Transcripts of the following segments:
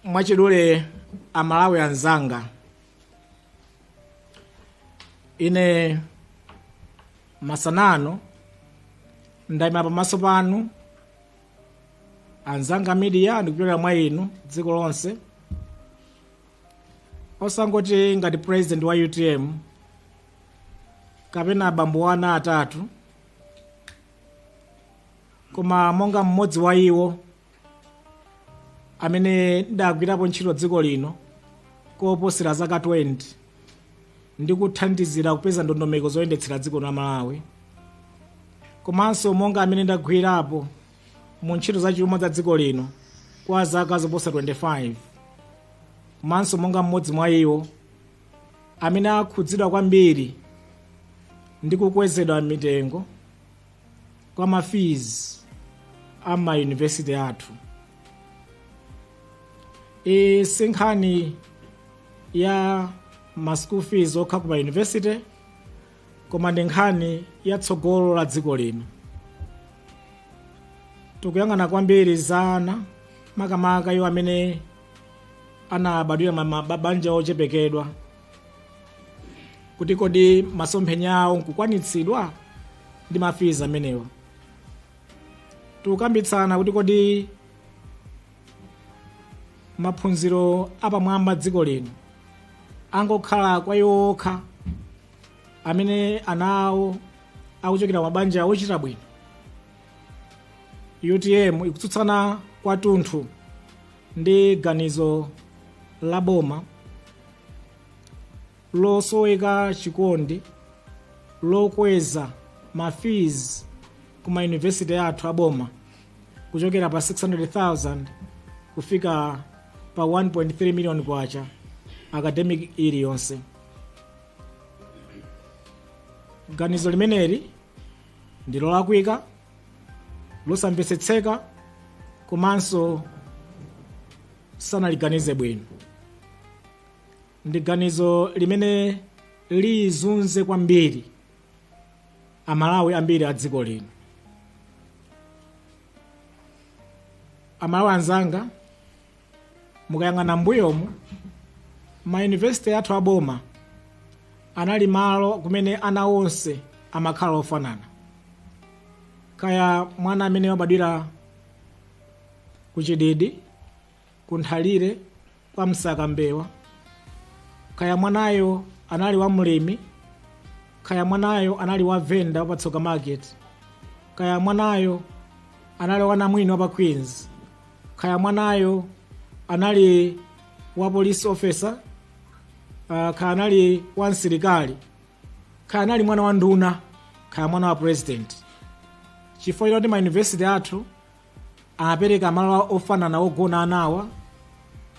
mwachidule amalawi anzanga ine masanano ndayima pamaso panu anzanga a midiya ndikupitira mwa inu dziko lonse osangoti ngati president wa utm kapena abambo wa ana atatu koma monga mmodzi wa iwo amene ndagwirapo ntchito dziko lino koposera zaka 20 ndi kuthandizira kupeza ndondomeko zoyendetsera dziko la malawi komanso monga amene ndagwirapo mu ntchito za chuma za dziko lino kwa zaka zoposa 25 komanso monga mmodzi mwa iwo amene akhudzidwa kwambiri ndi kukwezedwa mitengo kwa mafizi a mayunivesiti athu iyi si nkhani ya ma school fees okha ku mayunivesiti koma ndi nkhani ya tsogolo la dziko lino tikuyang'ana kwambiri za ana makamaka iwo amene anabadwira mabanja ochepekedwa kuti kodi masomphenya awo nkukwanitsidwa ndi mafizi amenewa tikukambitsana kuti kodi maphunziro apamwamba dziko lino angokhala kwa iwo okha amene ana awo akuchokera mabanja ochita bwino utm ikutsutsana kwathunthu ndi ganizo la boma losoweka chikondi lokweza mafizi ku mayunivesiti athu aboma kuchokera pa 600000 kufika pa 1.3 million kwacha academic iliyonse ganizo limeneli ndi lolakwika losamvetsetseka komanso sanaliganize bwino ndi ganizo limene lizunze kwambiri amalawi ambiri a dziko lino amalawi anzanga mukayang'ana mbuyomu mayunivesite athu aboma anali malo kumene ana onse amakhala ofanana kaya mwana amene wabadwira ku chididi ku nthalire kwa msaka mbewa kaya mwanayo anali wa mlimi kaya mwanayo anali wa venda wa patsoka market kaya mwanayo anali wa namwino wa pa queens kaya mwanayo anali wa police officer uh, kaya anali wa msilikali kaya anali mwana wa nduna kaya mwana wa president chifukwa choti ma university athu amapereka malo ofanana ogona anawa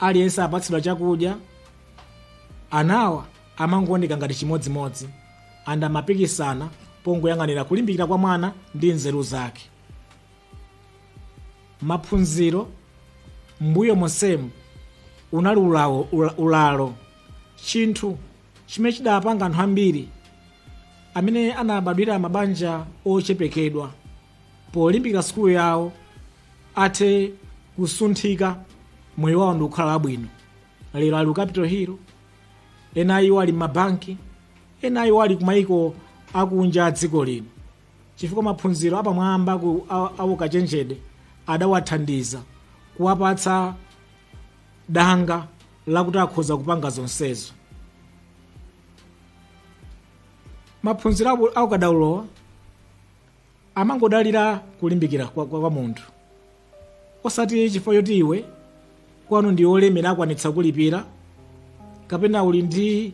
aliyense apatsidwa chakudya anawa amangooneka ngati chimodzimodzi and amapikisana pongoyang'anira kulimbikira kwa mwana ndi nzeru zake maphunziro mbuyo monsemu unali ulawo ula- ulalo chinthu chimene chidapanga anthu ambiri amene anabadwira mabanja ochepekedwa polimbikira sukulu yawo athe kusunthika moyo wawo ndi kukhala abwino lero ali ku capital hill ena a iwo ali m'mabanki ena a iwo ali kumayiko akunja a dziko lino chifukwa maphunziro apamwamba ku a- aukachenjede adawathandiza kuwapatsa danga lakuti akhoza kupanga zonsezo maphunziro abu- aukadaulowa amangodalira kulimbikira kwa, kwa, kwa munthu osati chifukwa choti iwe kwanu ndi olemera akwanitsa kulipira kapena uli ndi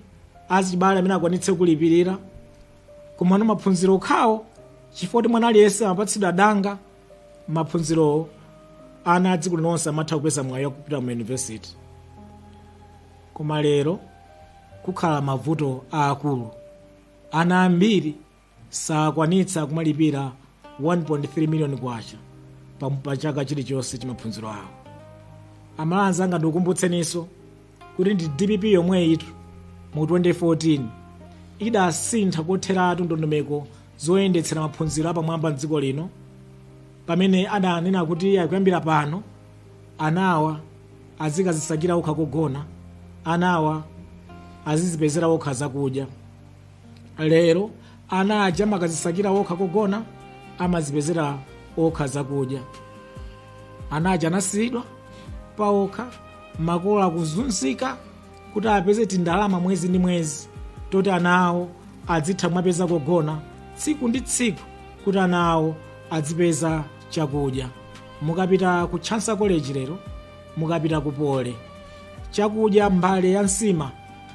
azibale amene akwanitse kulipirira koma ano maphunziro okhawo chifukwa kuti mwana aliyense amapatsidwa danga maphunzirowo ana adziko linonse amatha kupeza mwayi wakupita mu yunivesiti koma lero pakhala mavuto aakulu ana ambiri sakwanitsa kumalipira 1.3 miliyoni kwacha pa, pa chaka chilichonse cha maphunziro awo amalawi anzanga ndikukumbutseninso kuti ndi dpp yomweyitu mu 2014 idasintha kotheratu ndondomeko zoyendetsera maphunziro apamwamba mdziko lino pamene adanena kuti akuyambira pano anawa azikadzisakira okha kogona anawa azidzipezera okha zakudya lero ana aja amakazisakira okha kogona amazipezera okha zakudya ana aja anasiyidwa pa okha makolo akuzunzika kuti apeze tindalama mwezi ndi mwezi toti ana awo adzitha mwapeza kogona tsiku ndi tsiku kuti ana awo adzipeza chakudya mukapita ku chanco college lero mukapita ku poly chakudya mbale ya nsima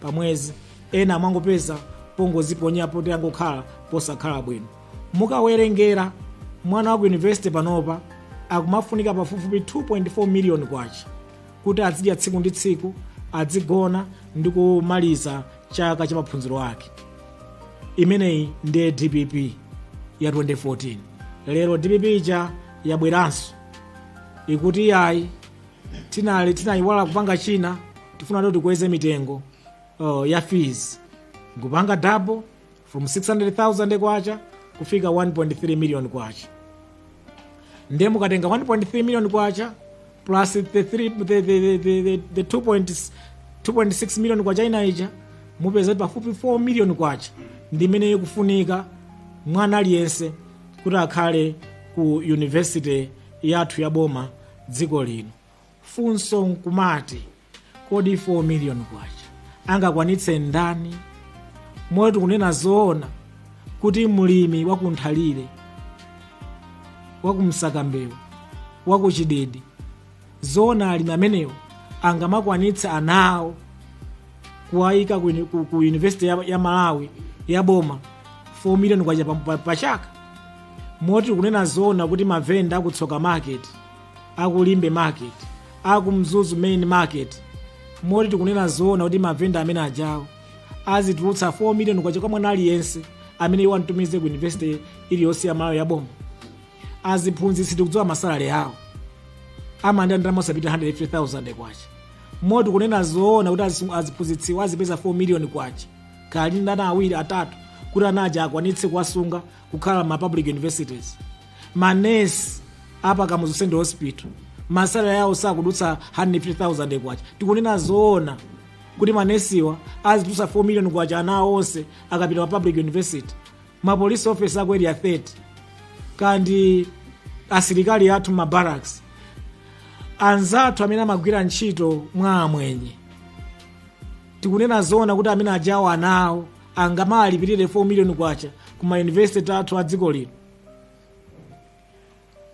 pamwezi ena amangopeza pongoziponya poti angokhala posakhala bwino mukawerengera mwana wa ku yunivesite panopa akumafunika pafupifupi 2.4 miliyoni kwacha kuti azidya tsiku ndi tsiku azigona ndi kumaliza chaka cha maphunziro ake imeneyi ndiye dpp ya 2014 lero dpp ija yabweranso ikuti yayi tinali tinayiwala kupanga china tifuna kuti tikweze mitengo uh, ya fees kupanga double from 600000 kwacha kufika 1.3 million kwacha ndiye mukatenga 1.3 million kwacha plus the, three, the, the, the, the, the, the 2.6 2.6 million kwacha ina ija mupeza kuti pafupi 4 million kwacha ndi imene ikufunika mwana aliyense kuti akhale ku university yathu ya boma dziko lino funso nkumati kodi 4 million kwacha angakwanitse ndani moti tikunena zoona kuti mlimi wakunthalire wakumsakambewa wakuchididi zoona alimi amenewo angamakwanitse ana awo kuwayika ku, uni- ku, ku university ya, ya malawi ya boma 4 million kwacha pa, pa, pa chaka moti tikunena zoona kuti mavenda aku tsoka market aku limbe market aku mzuzu main market moti tikunena zoona kuti mavenda amene ajawo azitulutsa 4 million kwacha kwa mwana aliyense amene iwo amtumize ku university iliyonse ya malawi yaboma aziphunzitsi tikudziwa masalary awo amalandira ndalama osapita 150000 kwacha moti tikunena zoona kuti azi- aziphunzitsiwo azipeza 4 million kwacha akali ndi ana awiri atatu kuti anaja akwanitse kuwasunga kukhala ma public universities manesi apa kamuzu central hospital masalary yawo sakudutsa 150000 kwacha tikunena zoona kuti manesiwa azitulutsa 4 million kwacha anawo onse akapita ma public university ma police officer aku area 30 kandi asilikali athu mma barracks anzathu amene amagwira ntchito mwa amwenye tikunena zoona kuti amene ajawo anawo angamalipirire 4 million kwacha ku ma university athu a dziko lino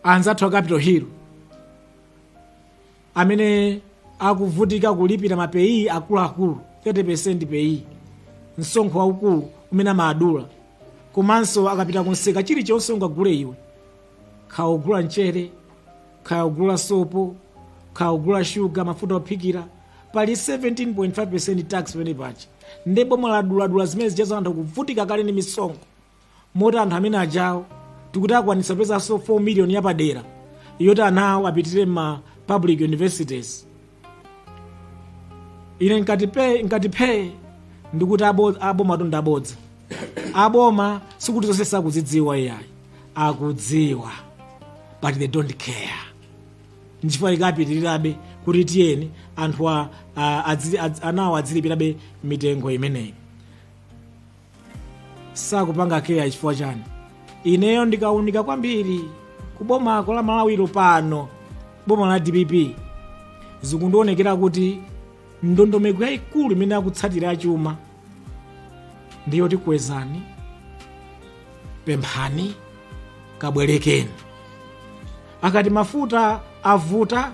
anzathu a Capital Hill amene akuvutika kulipira ma PAYE akuluakulu 30% PAYE msonkho waukulu umene amadula komanso akapita kumsika chilichonse ungagule iwe kaya ogula mchere kaya ogula sopo kaya ogula shuga mafuta ophikira pali 17.5% tax pamene paja nde boma laduladula zimene zijazo anthu kuvutika kale ndi misonkho moti anthu amene ajawo tikuti akwanitsa kupezanso 4 million yapadera yoti anawo apitirire m'ma public universities ine nkati phe nkati phe ndikuti abo- abomatu ndabodza aboma sikuti zonse sakuzidziwa iyayi akudziwa but they don't care nchifukwa ikapitirirabe kuti tiyeni anthu a- a- adzi- adzi- anawo adzilipirabe mitengo imeneyi sakupanga care chifukwa chani ineyo ndikaunika kwambiri ku boma la malawili pano boma la dpp zikundionekera kuti ndondomeko yayikulu imene akutsatira achuma ndi yoti kwezani pemphani kabwerekeni akati mafuta avuta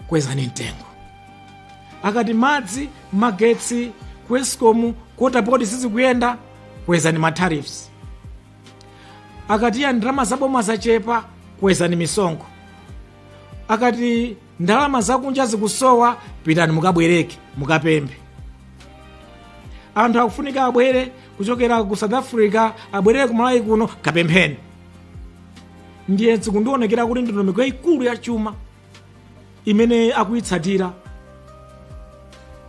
kwezani mtengo akati madzi magetsi ku escom ku water board sizikuyenda kwezani matariffs akati ya ndalama zaboma zachepa kwezani misonkho akati ndalama zakunja zikusowa pitani mukabwereke mukapemphe anthu akufunika abwere kuchokera ku south africa abwerere ku malawi kuno kapempheni ndiye zikundionekera kuti ndondomeko yayikulu ya chuma imene akuyitsatira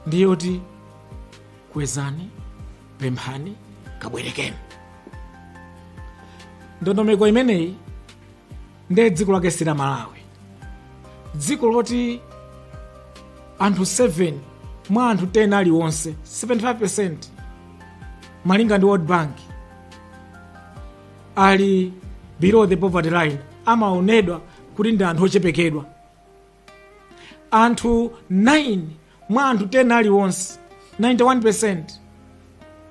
ndi yoti kwezani pemphani kabwerekeni ndondomeko imeneyi ndiye dziko lake si la malawi dziko loti anthu 7 mwa anthu 10 aliwonse 75% malinga ndi world bank ali below the poverty line amaonedwa kuti ndi anthu ochepekedwa anthu 9 mwa anthu 10 aliwonse 91%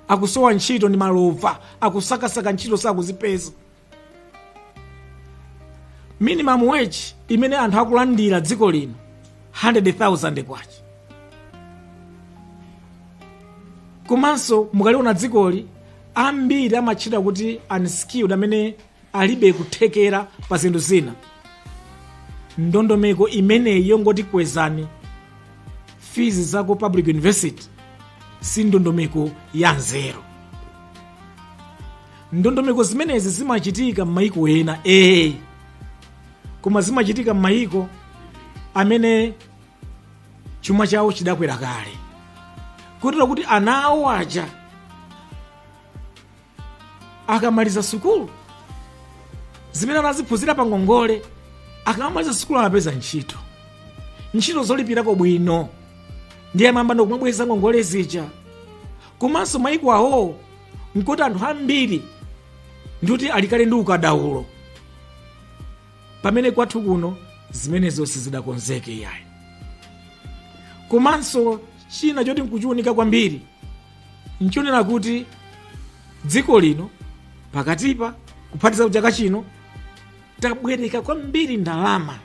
akusowa ntchito ndi malova akusakasaka ntchito sakuzipeza minimum wage imene anthu akulandira dziko lino 100,000 kwacha komanso mukaliona dzikoli ambiri amatchedwa kuti unskilled amene alibe kuthekera pa zinthu zina ndondomeko imeneyi yongoti kwezani fees za ku public university si ndondomeko ya nzeru ndondomeko zimenezi zimachitika m'mayiko ena ee koma zimachitika m'mayiko amene chuma chawo chidakwera kale kutero kuti ana awo aja akamaliza sukulu zimene anaziphunzira pa ngongole akamaliza sukulu amapeza ntchito ntchito zolipirako bwino ndiye amayamba ndikumabweza ngongole zija komanso mayiko awowo nkuti anthu ambiri ndikuti alikale ndi ukadaulo pamene kwathu kuno zimenezo sizidakonzeke yayi komanso china choti nkuchiunika kwambiri nchonena kuti dziko lino pakatipa kuphatiza chaka chino tabwereka kwambiri ndalama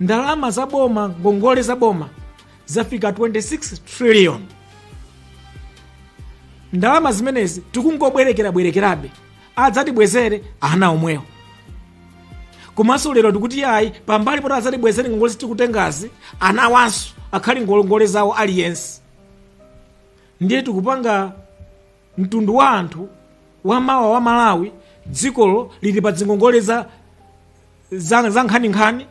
ndalama za boma ngongole za boma zafika 26 trillion ndalama zimenezi tikungobwerekerabwerekerabe adzatibwezere ana omwewo komanso lero tikuti iyayi pambali poti adzatibwezere ngongole tikutengazi anawanso akhale ngongole zawo aliyense ndiye tikupanga mtundu wa anthu wamawa wa malawi dzikolo lili pa dzingongole za za za nkhaninkhani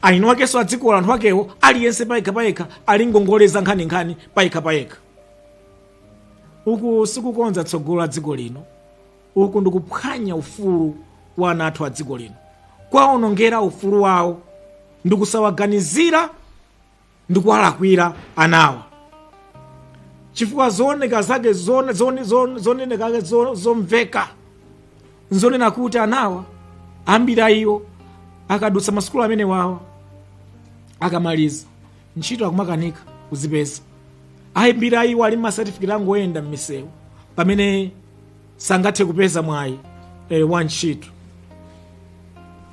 eni akenso adzikolo anthu akewo aliyense payekha payekha ali ngongole za nkhaninkhani payekha payekha uku sikukonza tsogolo la dziko lino uku ndikuphwanya ufulu wa ana athu a dziko lino kuwaonongera ufulu wawo ndikusawaganizira ndikuwalakwira anawa chifukwa zooneka zake zone- zone- zone- zoneneka zake zo- zomveka nzonena kuti anawa ambiri a iwo akadutsa masukulu amenewawa akamaliza ntchito akumakanika kuzipeza ambiri a iwo ali masatifiketi angoyenda m'misewu pamene sangathe kupeza mwayi eh, wa ntchito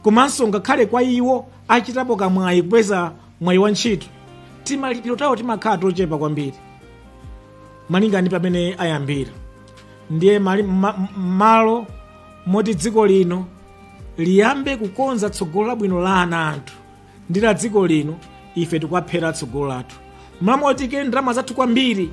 komanso ngakhale kwa iwo achitapo kamwayi kupeza mwayi wa ntchito timalipiro tawo timakhala tochepa kwambiri malinga ndi pamene ayambira ndiye mali- ma- m- m'malo moti dziko lino liyambe kukonza tsogolo labwino la ana athu ndi la dziko lino ife tikuwaphera tsogolo lathu m'malo moti tiike ndalama zathu kwambiri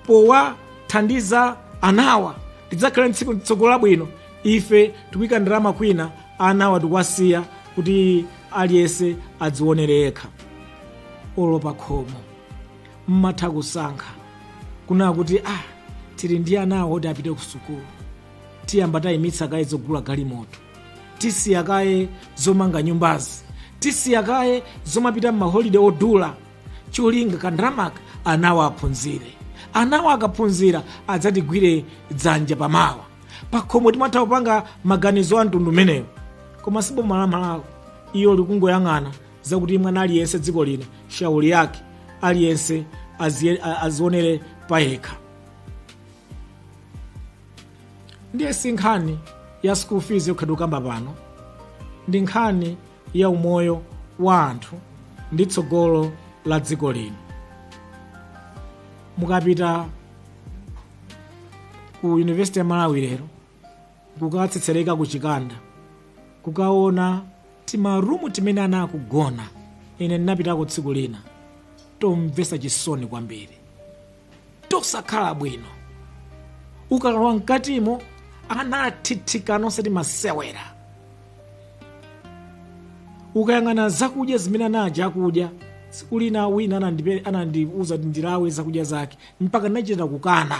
powathandiza anawa tidzakhale ndi tsiku tsogolo labwino ife tikuyika ndalama kwina anawa tikuwasiya kuti aliyense adziwonere yekha olo pakhomo mmatha kusankha kunena kuti ah tili ndi anawa oti apite ku sukulu tiyamba tayimitsa kaye zogula galimoto tisiya kaye zomanga nyumbazi tisiya kaye zomapita m'maholide odula cholinga kandalamaka anawa aphunzire anawa akaphunzira adzatigwire dzanja pamawa pakhomo timatha kupanga maganizo a mtundu umenewo koma si boma la malawi iyo likungoyang'ana zakuti mwana aliyense dziko lino shauri yake aliyense azie- a- azionere payekha ndiye si nkhani ya school fees yokha tikukamba pano ndi nkhani ya umoyo wa anthu ndi tsogolo la dziko lino mukapita ku university ya malawi lero kukatsetsereka ku chikanda kukaona timarumu timene ana akugona ine ndinapitako tsiku lina tomvetsa chisoni kwambiri tosakhala bwino ukalowa mkatimo ana athithikana osati masewera ukayang'ana zakudya zimene ana aja akudya tsiku lina wina anandipe- anandiuza kuti ndilawe zakudya zake mpaka ndinachita kukana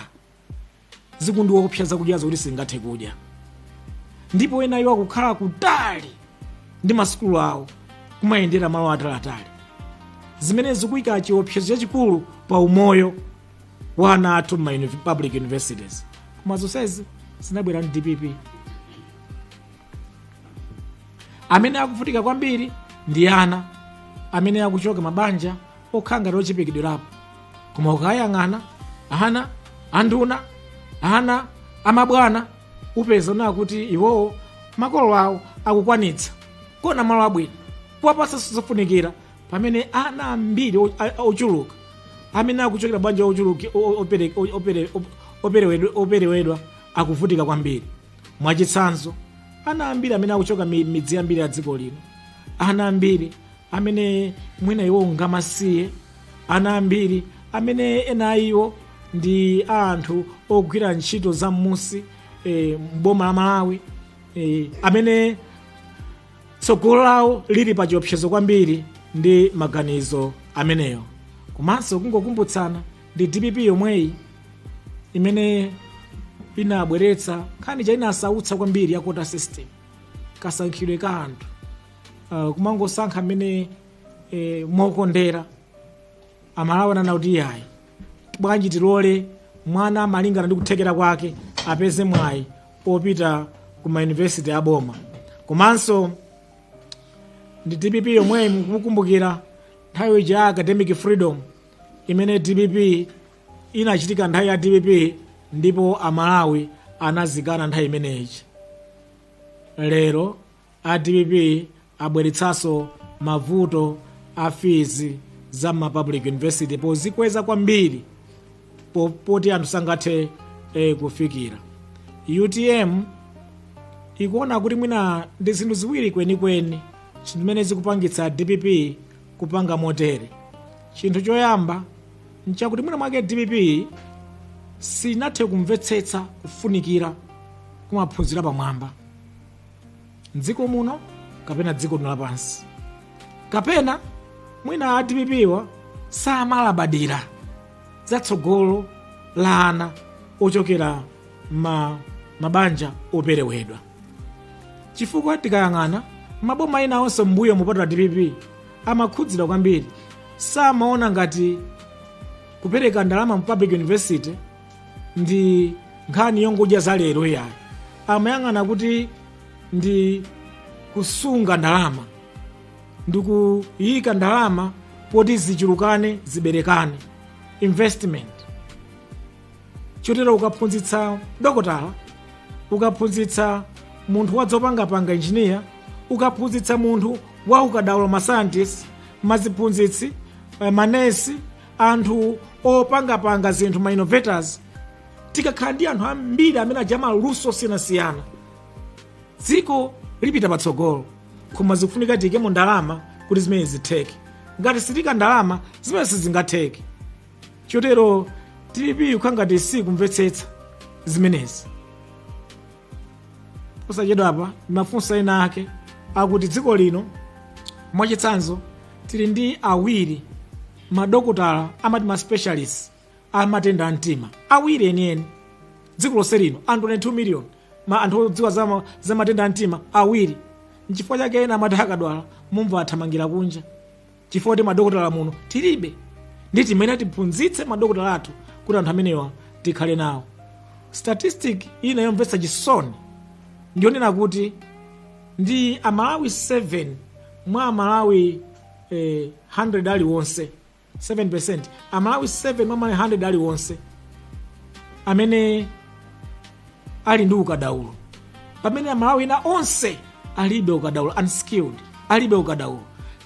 zikundiopsa zakudya zoti sungathe kudya ndipo ena iwo akukhala kutali ndi masukulu awo kumayendera malo atalatali zimene zikuyika chiopsezo chachikulu pa umoyo wa ana athu m'ma uni- public universities koma zonsezi zinabwera ndi dpp amene akuvutika kwambiri ndi ana amene akuchoka m'mabanja okhala ngati ochepekedwerapo koma ukayang'ana ana anduna ana amabwana upeza uona kuti iwowo makolo awo akukwanitsa kuona malo abwino kuwapatsa zofunikira pamene ana ambiri o- a- a- ochuluka amene akuchokera banja ochuluka o- o- opere- o- opere- op- operewedwe- operewedwa akuvutika kwambiri mwachitsanzo ana ambiri amene akuchoka mi- midzi yambiri ya dziko lino ana ambiri amene ena a iwo ndi amasiye ana ambiri amene ena a iwo ndi a anthu ogwira ntchito za m'musi e, m'boma la malawi e, amene tsogolo lawo lili pa chiopsezo kwambiri ndi maganizo amenewo komanso kungokumbutsana ndi dpp yomweyi imene inabweretsa nkhani chani inasautsa kwambiri ya quota system kasankhidwe ka anthu uh, kumangosankha amene eh, mokondera amalawi ananena kuti iyayi bwanji tilole mwana malingana ndi kuthekera kwake apeze mwayi opita ku mayunivesiti aboma komanso ndi dpp yomweyi mukukumbukira nthawi ija ya academic freedom imene dpp inachitika nthawi ya dpp ndipo amalawi anazikana nthawi imeneyi lero a dpp abweretsanso mavuto a fees za ma public university pozikweza kwambiri po- poti anthu sangathe eh, kufikira utm ikuona kuti mwina ndi zinthu ziwiri kwenikweni zimene zikupangitsa dpp kupanga motere chinthu choyamba nchakuti mwina mwake dpp sinathe kumvetsetsa kufunikira kwa maphunziro apamwamba mdziko muno kapena dziko lina lapansi kapena mwina a dpp-wa samalabadira za tsogolo la ana ochokera ma mabanja operewedwa chifukwa tikayang'ana maboma ena onse m'mbuyomu kupatula dpp amakhudzidwa kwambiri samaona ngati kupereka ndalama mu public university ndi nkhani yongodya za lero iyayi amayang'ana kuti ndi kusunga ndalama ndi kuyika ndalama poti zichulukane ziberekane investment chotero ukaphunzitsa dokotala ukaphunzitsa munthu wazopangapanga injiniya ukaphunzitsa munthu wa ukadaulo mascientist maziphunzitsi eh, manesi anthu opangapanga zinthu ma innovators tikakhala ndi anthu ambiri amene a maluso osiyanasiyana dziko lipita patsogolo koma zikufunika tiyikemo ndalama kuti zimenezi zitheke ngati sitiika ndalama zimenezi sizingatheke chotero dpp ikukhala ngati sikumvetsetsa zimenezi posachedwapa mafunso enaake akuti dziko lino mwachitsanzo tili ndi awiri madokotala amati ma specialist a matenda a mtima awiri eni eni dziko lonse lino anthu 22 million ma anthu odziwa za, ma- za matenda a mtima awiri nchifukwa chake ena amati akadwala mumva athamangira kunja chifukwa choti madokotala muno tilibe ndiye tiyeni tiphunzitse madokotala athu kuti anthu amenewa tikhale nawo statistic ina yomvetsa chisoni ndiyonena kuti ndi amalawi 7 mwa amalawi eh, 100 aliwonse 7 percent amalawi 7 mwa amalawi 100 aliwonse amene ali ndi ukadaulo pamene amalawi ena onse alibe ukadaulo unskilled alibe ukadaulo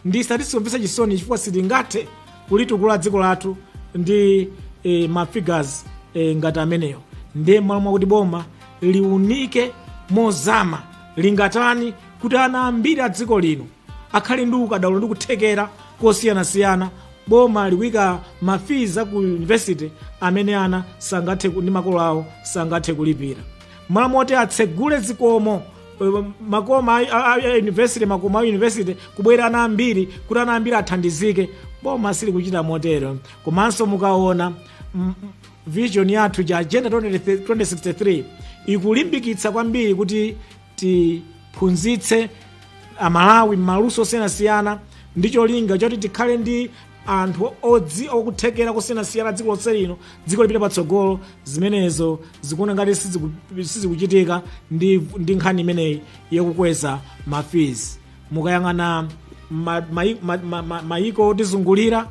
ndi statistics yomvetsa chisoni chifukwa sitingathe kulitukula dziko lathu ndi eh, mafigures eh, ngati ameneyo ndiye mmalo mwakuti boma liunike mozama lingatani kuti ana ambiri a dziko lino akhale ndi ukadaulo ndi kuthekera kosiyanasiyana boma likuika mafizi a ku university amene ana sangathe ku- ndi makolo awo sangathe kulipira mmalo moti atsegule zikomo eh, makoma a- a- a- a university makomo a university kubwera ana ambiri kuti ana ambiri athandizike boma silikuchita motero komanso mukaona mm, mm, vision yathu cha agenda 2063 ikulimbikitsa kwambiri kuti tiphunzitse amalawi maluso osiyanasiyana ndi cholinga choti tikhale ndi anthu odzi okuthekera kusiyanasiyana dziko lonse lino dziko lipite patsogolo zimenezo zikuoneka ngati siziku- sizikuchitika ndi, ndi nkhani imeneyi yokukweza mafizi mukayang'ana ma- mai- ma- ma- ma- mayiko otizungulira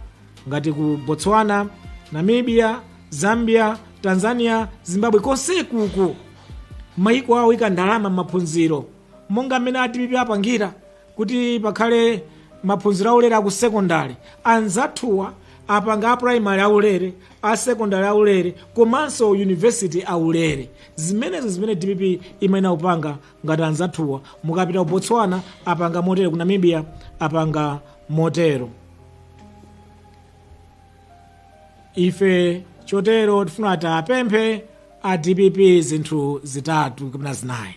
ngati ku botswana namibia zambia tanzania zimbabwe konsekuku mayiko awa aika ndalama m'maphunziro monga mmene a dpp apangira kuti pakhale maphunziro aulere aku sekondari anzathuwa apanga a primary aulere a sekondari aulere komanso university aulere zimenezo zimene dpp imayenera kupanga ngati anzathuwa mukapita ku botswana apanga motero ku namibia apanga motero ife chotero tifuna tiwapemphe a dpp zinthu zitatu kapena zinayi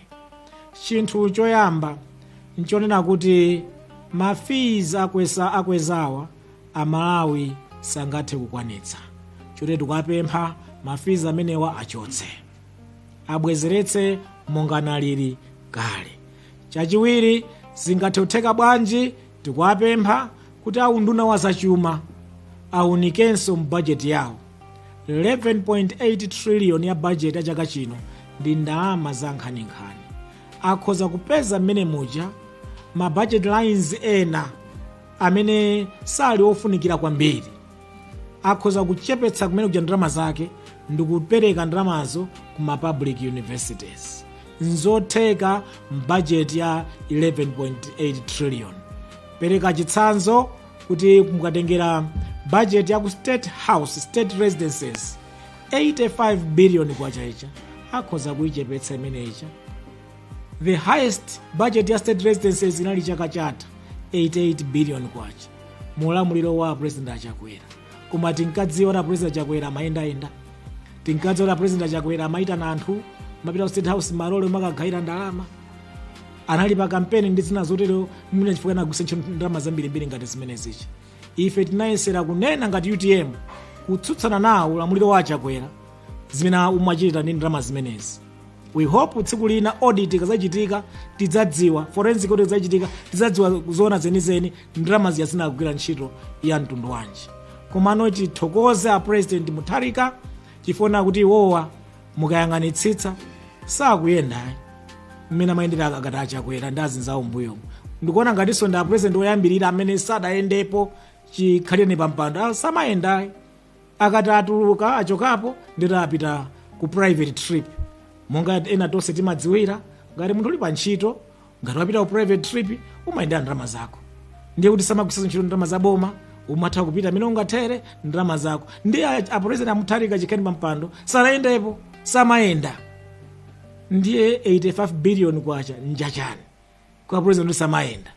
chinthu choyamba nchonena kuti ma fees akweza akwezawa amalawi sangathe kukwanitsa chotero tikuwapempha ma fees amenewa achotse abwezeretse monga analili kale chachiwiri zingathe kutheka bwanji Tikuwapempha kuti a unduna wa zachuma awunikenso m'bajeti yawo. 11.8 trillion ya bajeti ya chaka chino ndi ndalama za nkhaninkhani. Akhoza kupeza mmenemuja ma budget lines ena amene sali ofunikira kwambiri. akhoza kuchepetsa kumenekuja ndalama zake ndikupereka ndalamazo ku ma public universities nzotheka mbajeti ya 11.8 trillion pereka chitsanzo kuti mukatengera bajeti ya ku state house state residences 85 billion kwacha ija akhoza kuichepetsa imeneija the highest budget ya state residences inali chaka chatha 88 billion kwacha mu ulamuliro wa president achakwera koma tinkadziwa kuti president achakwera amayendayenda tinkadziwa kuti president achakwera amayitana anthu kumapita ku state house malole kumakagawira ndalama anali pa kampeni ndi zina zotero mwina chifukwa anagwiritsa ntchito ndalama zambirimbiri ngati zimenezi ife tinayesera kunena ngati utm kutsutsana nawo ulamuliro wa achakwera zimene umachita ndi ndalama zimenezi we hope tsiku lina audit ikazachitika tidzadziwa forensic audit ikazachitika tidzadziwa zoona zenizeni ndalama zija zinagwira ntchito ya mtundu wanji komano tithokoze a president mutharika chifukwa kuti iwowa mukayang'anitsitsa sakuyenda mmene amayendera akati achakwera ndi azinzawo mbuyomo ndikuona ngatinso ndi a president oyambirira amene sadayendepo chikhalire pampando Ah, samayenda ayi akati atuluka achokapo ndiye kuti apita ku private trip monga ena tonse timadziwira ngati munthu uli pa ntchito ngati wapita ku private trip umayendera ndalama zako ndiye kuti samagwiritsa ntchito ndalama za boma umatha kupita mmene ungathere ndalama zako ndiye a- a president amutharika chikhalire pa mpando sanayendepo samayenda ndiye 85 billion kwacha njachani kwa president samayenda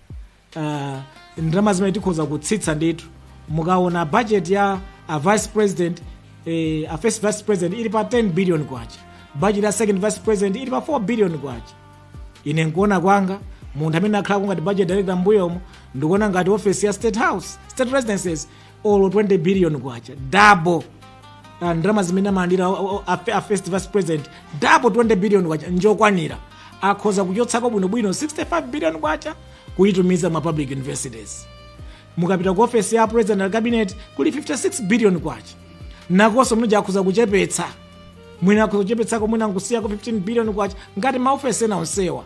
uh, ndalama zimenezi tikhoza kutsitsa ndithu mukaona budget ya a vice president eh, a first vice president ili pa 10 billion kwacha budget ya second vice president ili pa 4 billion kwacha ine nkuona kwanga munthu amene ndakhalako ngati budget director mbuyomo ndikuona ngati office ya state house state residences olo 20 billion kwacha double uh, ndalama zimene amalandira o- o- a, a first vice president double 20 billion kwacha njokwanira akhoza kuchotsako bwinobwino 65 billion kwacha kuyitumiza ma public universities mukapita ku ofesi ya president and cabinet kuli 56 billion kwacha nakonso muja akhoza kuchepetsa mwina akhoza kuchepetsako mwina nkusiyako 15 billion kwacha ngati maofesi ena onsewa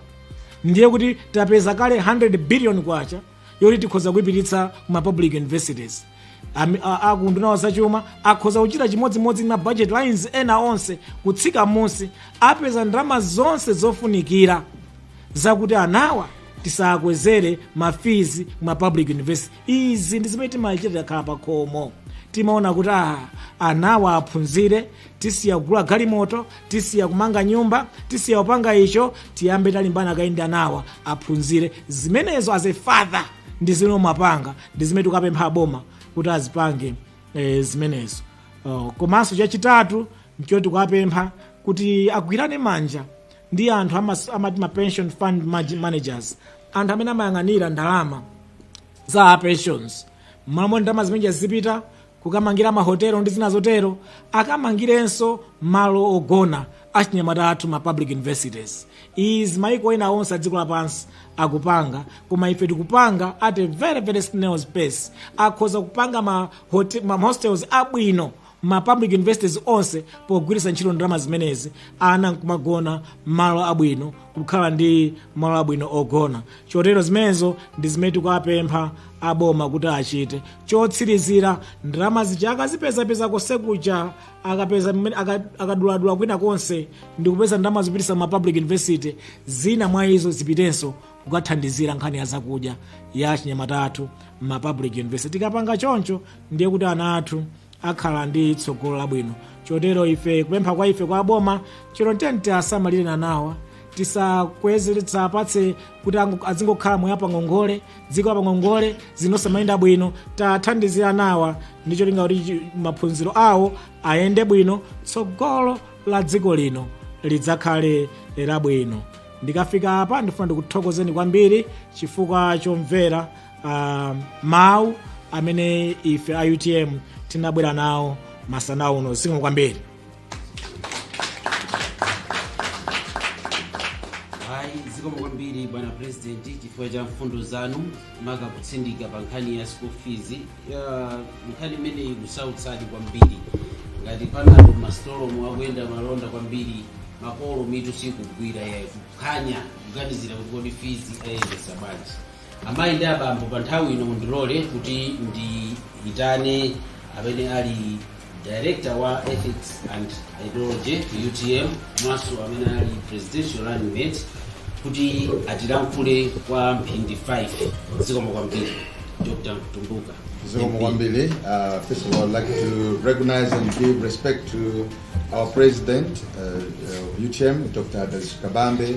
ndiye kuti tapeza kale 100 billion kwacha yoti tikhoza kuipititsa ku ma public universities Ami- a- anduna a zachuma akhoza kuchita chimodzimodzi ndi ma budget lines ena onse kutsika munsi apeza ndalama zonse zofunikira zakuti anawa tisakwezere mafizi ku ma public university izi ndi zimene timachita takhala pakhomo timaona kuti ah, anawa aphunzire tisiya kugula galimoto tisiya kumanga nyumba tisiya kupanga icho tiyambe talimbana kaye ndi anawa aphunzire zimenezo as a father ndi zimene umapanga ndi zimene tikuwapempha aboma kuti azipange eh, zimenezo oh, komanso chachitatu nchoti tikuwapempha kuti agwirane manja ndi anthu amas- amati ma pension fund manage- managers anthu amene amayang'anira ndalama za pensions mmalo moti ndalama zimenezi zipita kukamangira mahotelo ndi zina zotero akamangirenso malo ogona achinyamata athu m'ma public universities izi maiko ena onse adziko lapansi akupanga koma ife tikupanga at a very very snail's pace akhoza kupanga ma, hote, ma hostels abwino m'ma public universities onse pogwiritsa ntchito ndalama zimenezi ana nkumagona m'malo abwino kukhala ndi malo abwino ogona chotero zimenezo ndi zimene tikuwapempha aboma kuti achite Chotsirizira, ndalama zija akazipezapeza konsekuja, akapeza mmene- aka- akaduladula kwina konse ndi kupeza ndalama zopititsa m'ma public university zina mwa izo zipitenso kukathandizira nkhani ya zakudya ya achinyamata athu m'ma public university tikapanga choncho ndiye kuti ana athu akhala ndi tsogolo labwino chotero ife kupempha kwa ife kwa aboma chotero nkuti tiasamalire anawa tisakweze tisapatse kuti ango- azingokhala moyo apangongole dziko apangongole zinosamayenda bwino tiathandize anawa ndi cholinga kuti chi- maphunziro awo ayende bwino tsogolo la dziko lino lidzakhale labwino ndikafika apa ndifuna ndikuthokozeni kwambiri chifukwa chomvera uh, mawu amene ife a utm tinabwera nawo masana uno zikomo kwambiri hayi zikomo kwambiri bwana purezidenti chifukwa cha mfundo zanu maka kutsindika pa nkhani ya school fees Ya, nkhani imeneyi ikusautsadi kwambiri ngati panadol m'masitolomu akuyenda malonda kwambiri makolo mitu sikugwira yayi kuphwanya kuganizira kuti kodi fees ayendesa bwanji Amayi ndi abambo, pa nthawi ino mundilole kuti ndiyitane amene ali director wa ethics and ideology ku utm komanso amene ali presidential running mate kuti atilankhule kwa mphindi 5 zikomo kwambiri dr mtumbuka Zikomo kwambiri, uh, first of all, I'd like to recognize and give respect to our president uh, of UTM, Dr. Dalitso Kabambe,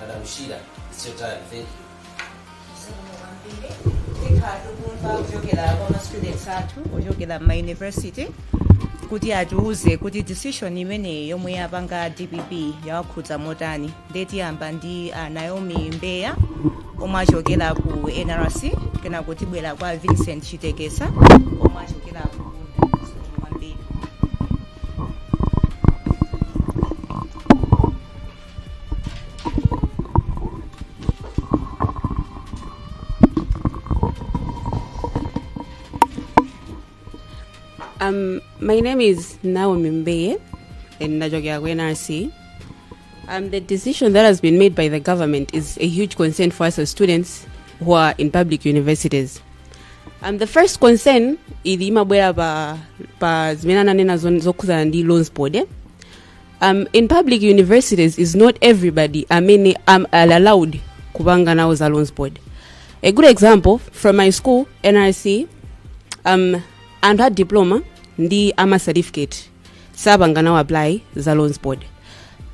Madam Shira, it's your time. Thank you. tikhala tikumva kuchokera kwa ma students athu ochokera ma university kuti atiuze kuti decision imeneyi yomwe yapanga dpp yawakhudza motani ndiye tiyamba ndi a naomi mbeya omwe achokera ku nrc kenako tibwera kwa vincent chitekesa omwe achokera ku kwambiri Um, my name is Naomi Mbeye, and Najokia NRC. Um, the decision that has been made by the government is a huge concern for us as students who are in public universities. Um, the first concern ili imabwera pa, pa zimene ananena zon- zokhuzana ndi loans board eh? um, in public universities is not everybody amene ali allowed kupanga nawo za loans board a good example from my school nrc um, anthu a diploma ndi a ma certificate sapanga nawo apply za loans board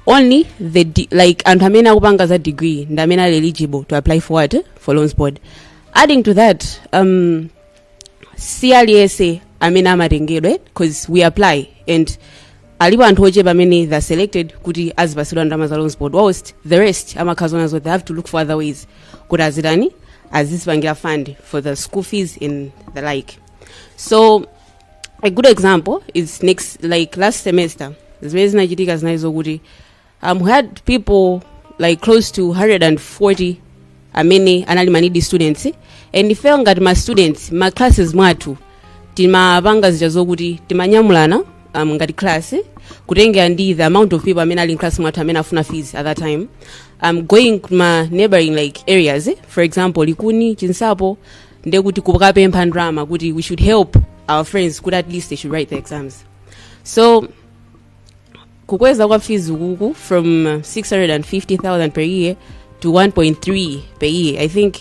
only the de- like anthu amene akupanga za degree ndi amene ali eligible to apply for what for loans board adding to that um, si aliyense amene amatengedwa eh, cause we apply and alipo anthu ochepa amene they are selected kuti azipatsidwa ndalama za loans board whilst the rest amakhala zonena zoti they have to look for other ways kuti azitani azizipangira fund for the school fees and the like so a good example is like last semester zimene zinachitika zinali zokuti um, had people like close to 140 amene anali ma needy students and ifeyo ngati ma students ma classes mwathu timapanga zija zokuti timanyamulana um, ngati class kutengera ndi the amount of people amene ali in class mwathu amene afuna fees at that time um, going to ma neighboring like areas for example likuni chinsapo nde kuti kukapempha ndalama kuti we should help our friends kuti at least they should write the exams so kukweza kwa fees ukuku from uh, 650,000 per year to 1.3 per year i think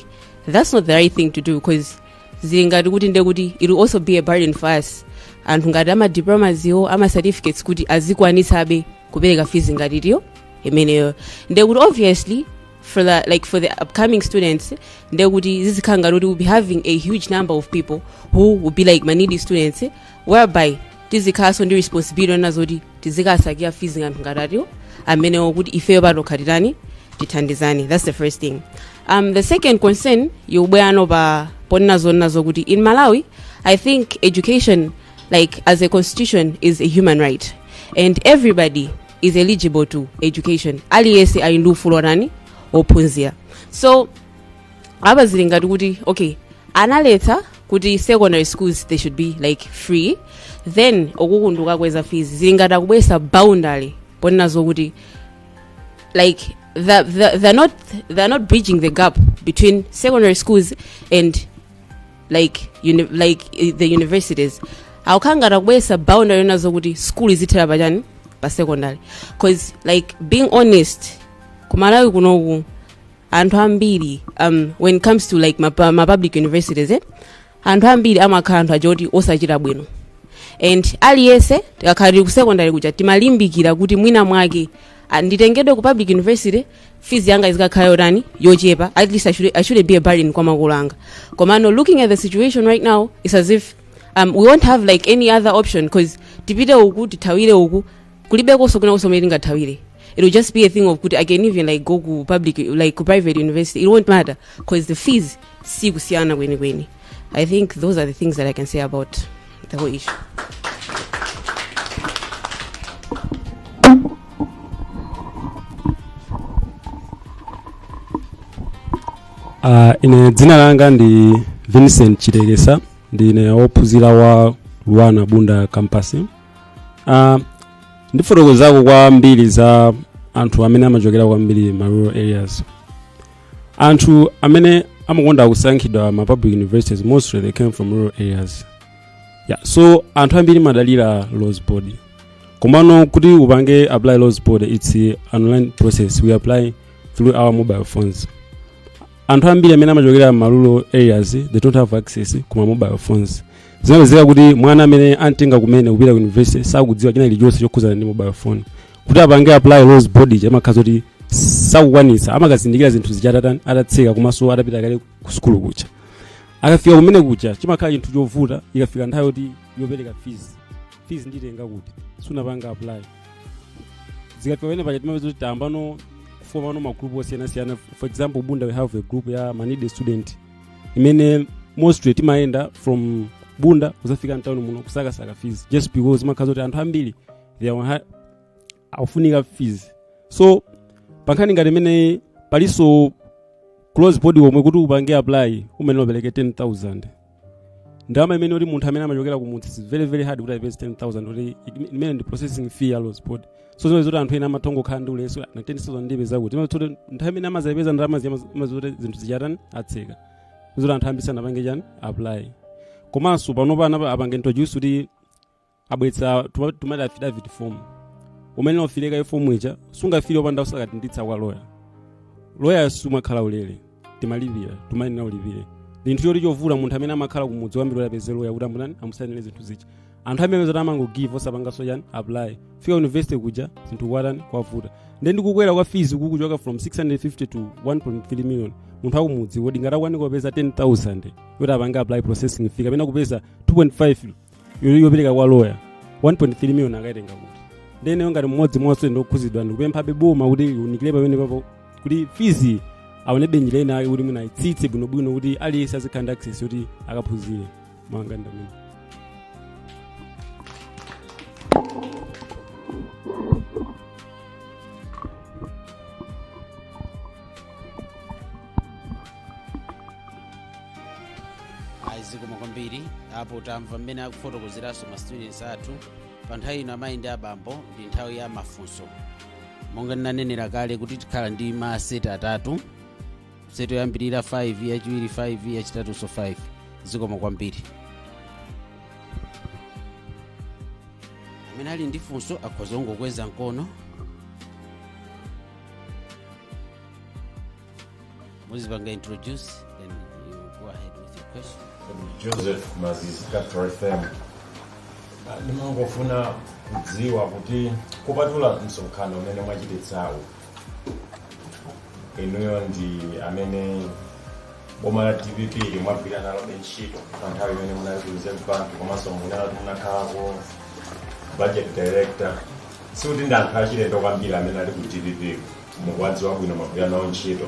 that's not the right thing to do because zili ngati kuti nde kuti it will also be a burden for us anthu ngati a ma diplomas iwo a ma certificates kuti azikwanitsabe kupereka fees ngati iti iyo imeneyo nde kuti obviously for the, like for the upcoming students nde kuti zizikhala ngati kuti we'll be having a huge number of people who will be like ma needy students whereby tizikhalanso ndi responsibility yonena zoti tizikasakira fees ya anthu ngati ati iwo amenewo kuti ifeyo patokha titani tithandizane that's the first thing um, the second concern yobweranso pa ponena zonena zokuti in malawi i think education like as a constitution is a human right and everybody is eligible to education aliyense ali ndi ufulu wotani wophunzira so apa zili ngati kuti okay analetsa kuti secondary schools they should be like free then uku kungokakweza fees zili ngati akubweretsa boundary yonena zokuti like the, the, they're not they're not bridging the gap between secondary schools and like uni, like i- the universities akukhala ngati akubweretsa boundary yonena zokuti school izithera pachani pa secondary cause like being honest ku malawi kunoku anthu ambiri um, when it comes to like ma, pu- ma public universities eh? anthu ambiri amakhala anthu aja oti osachita bwino and aliyense tikakhala tili ku secondary kuja timalimbikira kuti mwina mwake ah, nditengedwe ku public university fees yanga izikakhala yotani yochepa at least I should, i shouldn't be a burden kwa makolo anga komano looking at the situation right now it's as if um, we won't have like any other option because tipite uku tithawire uku kulibekonso kwina komwe tingathawire it will just be a thing of kuti i can even like go ku public like ku private university it won't matter because the fees si kusiyana kwenikweni i think those are the things that i can say about the whole issue Uh, ine dzina langa ndi vincent chitekesa ndine wophunzira wa luanar bunda campus Ah, ndifotokozako kwambiri za anthu amene amachokera kwambiri ma rural areas anthu amene amakonda kusankhidwa ma public universities mostly they came from rural areas yeah, so anthu ambiri amadalira loans board komano kuti upange apply loans board it's an online process we apply through our mobile phones anthu ambiri amene amachokera ma rural areas they don't have access kuma mobile phones zinapezeka kuti mwana amene antenga kumene kupita ku university sakudziwa china chilichonse chokhudzana ndi mobile phone kuti apange apply loans board ija imakhala zakuti sakukwanitsa amakazindikira zinthu zija atatani atatseka komanso atapita kale ku sukulu kuja akafika kumene kuja chimakhala chinthu chovuta ikafika nthawi yoti yopereka fees fees nditenga kuti sunapange apply zikafika pamene paja timapeza kuti tayambano kufomano magroup osiyanasiyana for example bunda we have a group ya ma needy student imene mostly timayenda from bunda kuzafika mtawuni muno kusakasaka fees just because makhala zakuti anthu ambiri they are ha- akufunika fees so pankhani ngati imeneyi palinso ku loans board komwe kuti upange apply umayenera upereke 10000 ndalama imene kuti munthu amene amachokera kumudzi is very very hard kuti ayipeze 10000 kuti it- imene ndi processing fee ya ku loans board so zimakhala zoti anthu ena amatha kungokhala ndi ulesi na 10000 ndipeza kuti imakhala zakuti nthawi imene amazipeza ndalama imakhala zakuti zinthu zija atani atseka zoti anthu ambiri sanapange chani apply komanso panopa anapa apange introduce kuti abweretsa tima- timati affidavit form umayenera ufile kaye fomu ija sungafile opanda usakadinditsa kwa loya loya samakhala waulere timalipira umayenera ulipire ndi chinthu choti chovuta munthu amene amakhala kumudzi kwambiri apeze loya kuti amutani amusainire zinthu zija anthu amene zoti amangogive osapanganso chani apply fika university kuja zinthu kwatani kwavuta nde ndikukwera kwa fees kukuchoka from 650 to 1.3 million munthu akumudzi kodi ngati akukanika kupeza 10000 yoti apange apply processing fee kapena kupeza 2.5 yo- yopereka kwa lawyer 1.3 million akaitenga kuti nde ineyo ngati mmodzi mwaso ndikukhudzidwa ndikupemphabe boma kuti liunikire pamenepapo kuti fees aonebe njira inayake kuti mwina aitsitse bwinobwino kuti aliyense azikhala ndi access yoti akaphunzire monga ndamene ayi zikomo kwambiri apo tamva mmene akufotokozeranso ma students athu pa nthawi ino amayi ndi abambo ndi nthawi ya mafunso monga ndinanenera kale kuti tikhala ndi ma set atatu set yoyambirira 5 yachiwiri 5 yachitatunso 5 zikomo kwambiri amene ali ndi funso akhoza kungokweza mkono muzipanga introduce then you go ahead with your question joseph mazizi capital fm ndimangofuna kudziwa kuti kupatula msonkhano umene mwachititsawu inuyo ndi amene boma la dpp mwagwira nalo ntchito pa nthawi imene munali ku reserve bank komanso munali munakhalako budget director sikuti ndi anthu achilendo kwambiri amene ali ku dpp mukuwadziwa bwino mwagwira nawo ntchito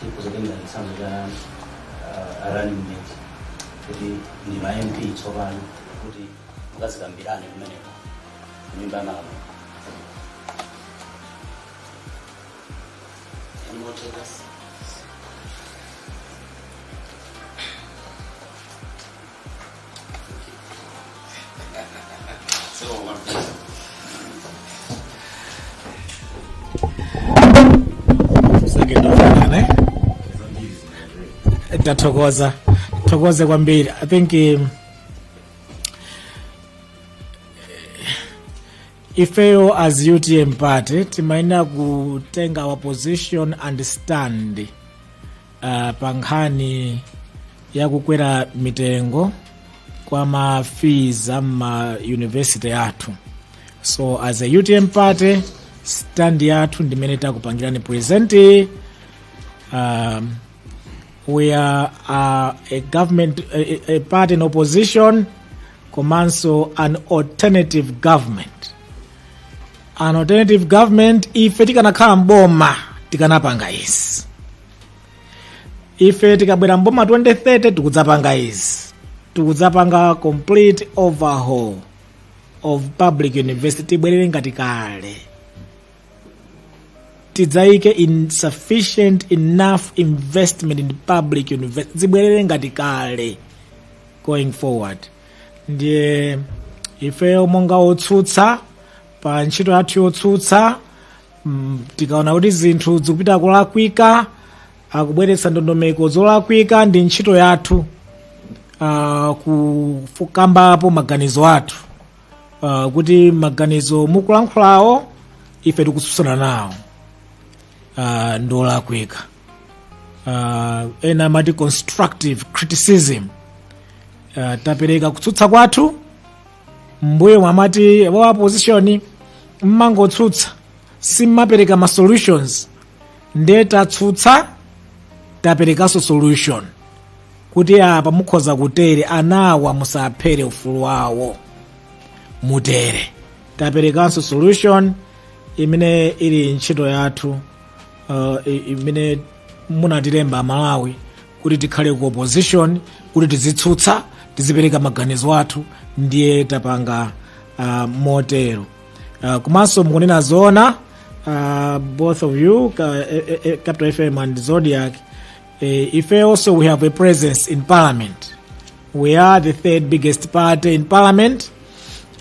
tikhoza kutenga chitsanzo cha ah, running mate kuti ndinu ma mp tsopano kuti mukazikambirane kumeneko kunyumba ya malamulo Any more takers? Tathokoza. Tithokoze kwambiri. I think um, ifeyo as utm party timayenera kutenga our position and stand uh, pa nkhani ya kukwera mitengo kwa ma fees a ma university athu so as a utm party stand yathu ndi imene takupangirani present um, we are uh, a government a, a party in opposition komanso an alternative government an alternative government ife tikanakhala mboma tikanapanga izi ife tikabwera mboma 2030 tikudzapanga izi tikudzapanga complete overhaul of public university zibwerere ngati kale tidzayike sufficient enough investment in public university zibwerere ngati kale going forward ndiye ifeyo monga otsutsa pa ntchito yathu yotsutsa mm, tikaona kuti zinthu zikupita kulakwika akubweretsa ndondomeko zolakwika ndi ntchito yathu uh, kukambapo maganizo athu uh, kuti maganizo mukulankhulawo ife tikutsutsana nawo uh, ndi olakwika uh, ena amati constructive criticism uh, tapereka kutsutsa kwathu mbuyomu amati wa opposition mmangotsutsa simmapereka ma solutions nde tatsutsa taperekanso solution kuti apa mukhoza kutere anawa musaphere ufulu wawo mutere taperekanso solution imene ili ntchito yathu uh, i- imene munatilemba amalawi kuti tikhale ku opposition kuti tizitsutsa tizipereka maganizo athu ndiye tapanga uh, motero uh, komanso mukunena zoona uh, both of you ka, eh, eh, eh, capital fm and zodiak eh, ife also we have a presence in parliament we are the third biggest party in parliament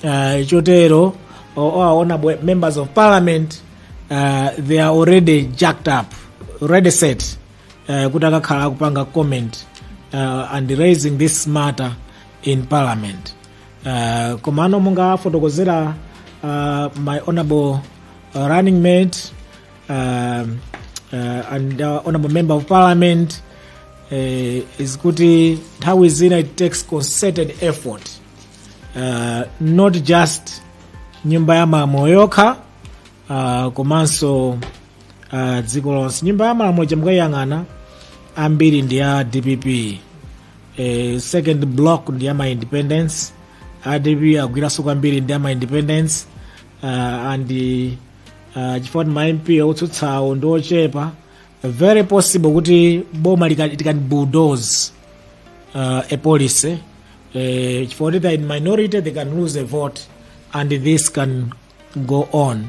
uh, chotero o- our honourable members of parliament uh, they are already jacked up already set uh, kuti akakhala akupanga comment uh, and raising this matter in parliament uh, komano mungafotokozera uh, my honorable uh, running mate um, uh, and uh, honorable member of parliament uh, is kuti nthawi zina it takes concerted effort uh, not just nyumba ya mamo yokha uh, komanso uh, dziko lonse nyumba ya malamulo ija mukaiyang'ana ambiri ndi a dpp eh, second block ndi a ma independents a dpp agwiranso kwambiri ndi a ma independents uh, and uh, chifukwa ndi ma mp otsutsawo ndi ochepa very possible kuti boma lika- it can bulldoze uh, a policy uh, chifukwa kuti they are in minority they can lose a vote and this can go on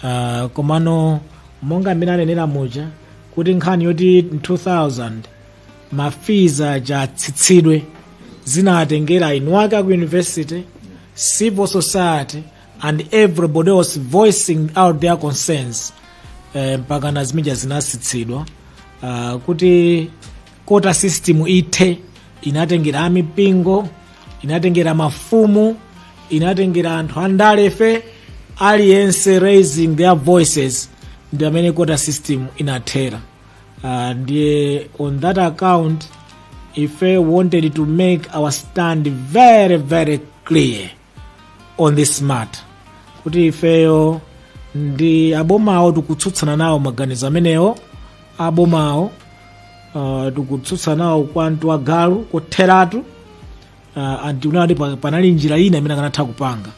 uh, komano monga mmene anenera muja kuti nkhani yoti 2000 mafizi aja atsitsidwe zinatengera inu ake aku university civil society and everybody was voicing out their concerns eh, mpakana zimija zinatsitsidwa uh, kuti quota system ithe inatengera amipingo inatengera mafumu inatengera anthu andalefe aliyense raising their voices ndiye mmene quota system inathera uh, ndiye on that account ife wanted to make our stand very very clear on this matter kuti ifeyo ndi abomawo tikutsutsana nawo maganizo amenewo abomawo uh, tikutsutsana nawo kwamtu wagalu kotheratu uh, and tikuona kuti pa- panali njira ina imene akanatha kupanga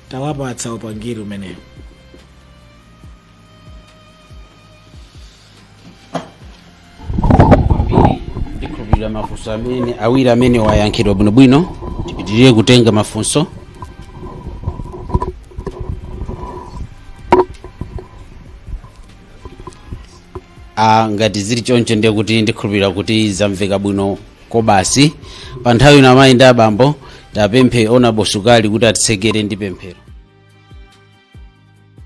tawapatsa upangiri umenewo ndikhulupirira mafunso amene awiri amene ayankhidwa bwinobwino tipitirire kutenga mafunso Ah, ngati zili choncho ndiye kuti ndikhulupirira kuti zamveka bwino kwabasi pa nthawi ino amayi ndi abambo tipemphe ona bosukali kuti atitsekere ndi pemphero